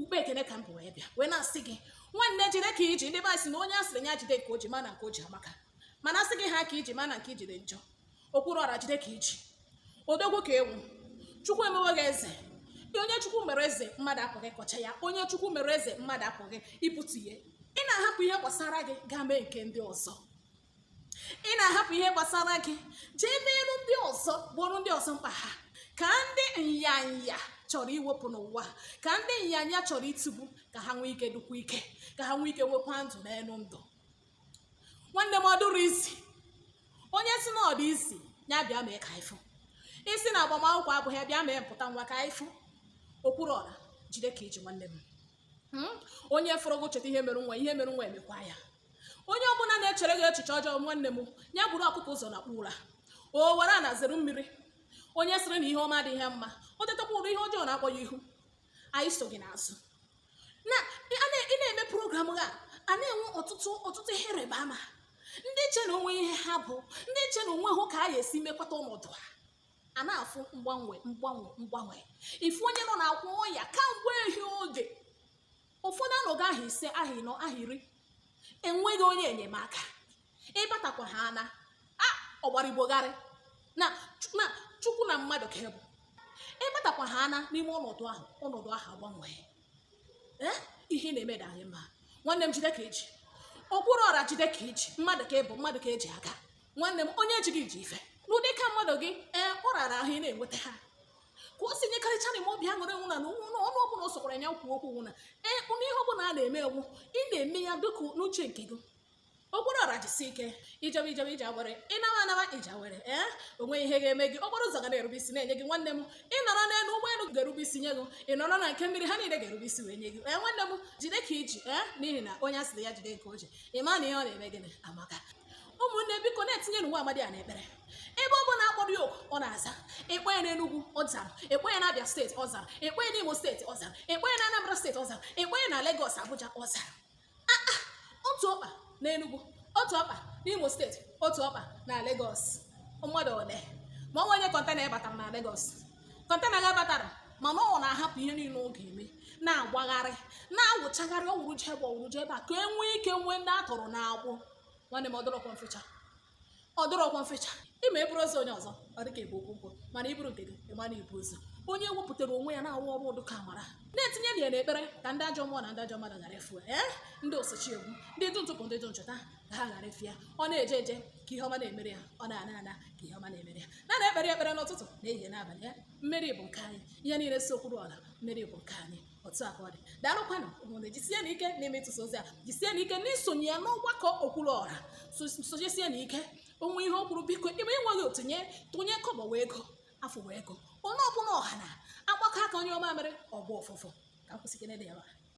ukpe ekene ka m bu wee bịa wee na-asị gị nwanne jide ka iji ndị be anyị sị na onye a sịrị ya jide nke o ji ma na nke o ji amaka mana asị gị ha ka iji ma na nke iji dị njọ Okwuluora jide ka iji odogwu ka ị wụ chukwu emewo gị eze onye chukwu mere eze mmadụ apụghị ịkọcha ya onye chukwu mere eze mmadụ apụghị ibutu ya ị na-ahapụ ihe gbasara gị gaa mee nke ndị ọzọ ị na-ahapụ ihe gbasara gị jee merụ ndị ọzọ gboro ndị ọzọ mkpa ha ka ndị nyanya chọrọ iwepụ n'ụwa ka ndị nyanya chọrọ itigbu ka ha nwee ike dịkwa ike ka ha nwee ike nwekwa ndụ n'elu ndụ nwanne m ọ dụrọ easy onye sị na ọ dụ easy ya bịa mee ka ị fụ ị sị na agbamakwụkwọ abụghị bịa mee mpụta nwa ka ị fụ Okwuluora jide ka iji nwanne m hmm? onye fụrụ gị cheta ihe mere nwa ihe mere nwa mekwaa ya onye ọbụla na-echere gị echiche ọjọọ nwanne m ya buru ọkụkọ ụzọ nakpuo ụra o were ana zere mmiri onye sịrị na ihe ọma adịghị ya mma o tetakwa ụra ihe ọjọọ na-akpọ ya ihu anyị so gị n'azụ na ị na-eme program a a na-enwe ọtụtụ ọtụtụ ihe ịrịba ama ndị che na o nwe ihe ha bụ ndị che na o nwehụ ka a ga-esi mekwata ọnọdụ ha a na-afụ mgbanwe mgbanwe mgbanwe ị fụ onye nọ n'akwa ọya kamgbe ehi oge ụfọdụ anọgo ahọ ise ahọ ịnọ ahọ iri enweghị onye enyemaka ị batakwa ha na ọgbara igbo gharị na chukwu na mmadụ ka ị bụ ị batakwa ha na n'ime ọnọdụ ahụ ọnọdụ ahụ agbanwee ihe ị na-eme dị anyị mma nwanne m jide ka iji Okwuluora jide ka iji mmadụ ka ị bụ mmadụ ka eji aga nwanne m onye ejighị iji ife n'ụdị ka mmadụ gị ee ọ rara ahụ ị na-enweta ha ka o si nyekarịcha na ime obi aṅụrị wụ na ọnụ ọbụla ọ sọkwara ya kwuo okwu wụ na ee ụnụ ihe ọbụla ị na-eme wụ ị na-eme ya dịka n'uche nke gị Okwuluora jisi ike ị jebe ejebe ije awere ị nawa anawa ije awere ee eh? o nwe ihe ga-eme gị okporo ụzọ ga na-erube isi na-enye gị nwanne m ị nọrọ n'elu ụgbọelu ga-erube isi nye gị ị nọrọ na nke mmiri ha niile ga-erube isi wee nye gị ee eh, nwanne m jide ka iji ee eh? n'ihi na onye asịrị ya jide nke o ji ị ma na ihe ọ na-eme gịnị amaka ụmụnne biko na-etinyenụ nwa amadi a n'ekpere ebe ọ bụla akpọrọ ya oku ọ na-aza a kpọọ ya n'Enugu ọ zara a kpọọ ya n'Abia steeti ọ zara a kpọọ ya n'Imo steeti ọ zara a kpọọ ya n'Anambra steeti ọ zara a kpọọ ya na Lagos Abuja ọ zara Ah, ah, otu ọkpa na Enugu otu ọkpa n'Imo steeti otu ọkpa na Lagos mmadụ ole ma ọ wụ onye kọntena batara na Lagos kọntena ga batara mana ọ na-ahapụ ihe niile ọ ga-eme na-agbagharị na-awụchagharị ọ wụrụ jee ebe a ọ wụrụ jee ebe a ka e nwee ike nwee ndị a tọrọ n'agbụ nwanne m ọ dụrọkwa mfe cha ọ dụrọkwa mfe cha ị ma eburu ozu onye ọzọ ọ dịka ebu ukwu nkụ mana i buru nke gị ị ma na i bu ozu onye wepụtara onwe ya na-arụ ọrụ ụdụ ka amara na-etinyenụ ya n'ekpere ka ndị ajọ mmụọ na ndị ajọ mmadụ ghara ịfụ ya ndị osochi egbu ndị di ntufu ndị di nchọta ka ha ghara ịfụ ya ọ na-eje eje ka ihe ọma na-emere ya ọ na-ana ana ka ihe ọma na-emere ya na na-ekpere ekpere n'ụtụtụ na ehihie n'abalị ya mmeri bụ nke anyị ihe niile si Okwuluora mmeri bụ nke anyị otu a ka ọ dị daalụkwanụ ụmụnne jisienụ ike na-eme ịtụsa ozi a jisienụ ike n'isonye ya n'ọgbakọ okwuluọra sonyesienụ ike o nwee ihe o kwuru biko ebe ị nweghị otinye tụnye kọbọ wụ ego afụ wụ ego onye ọbụla ọha na-agbakọ aka onye ọma mere ọgbọ ụfụfụ ka m kwụsị gị n'ebe a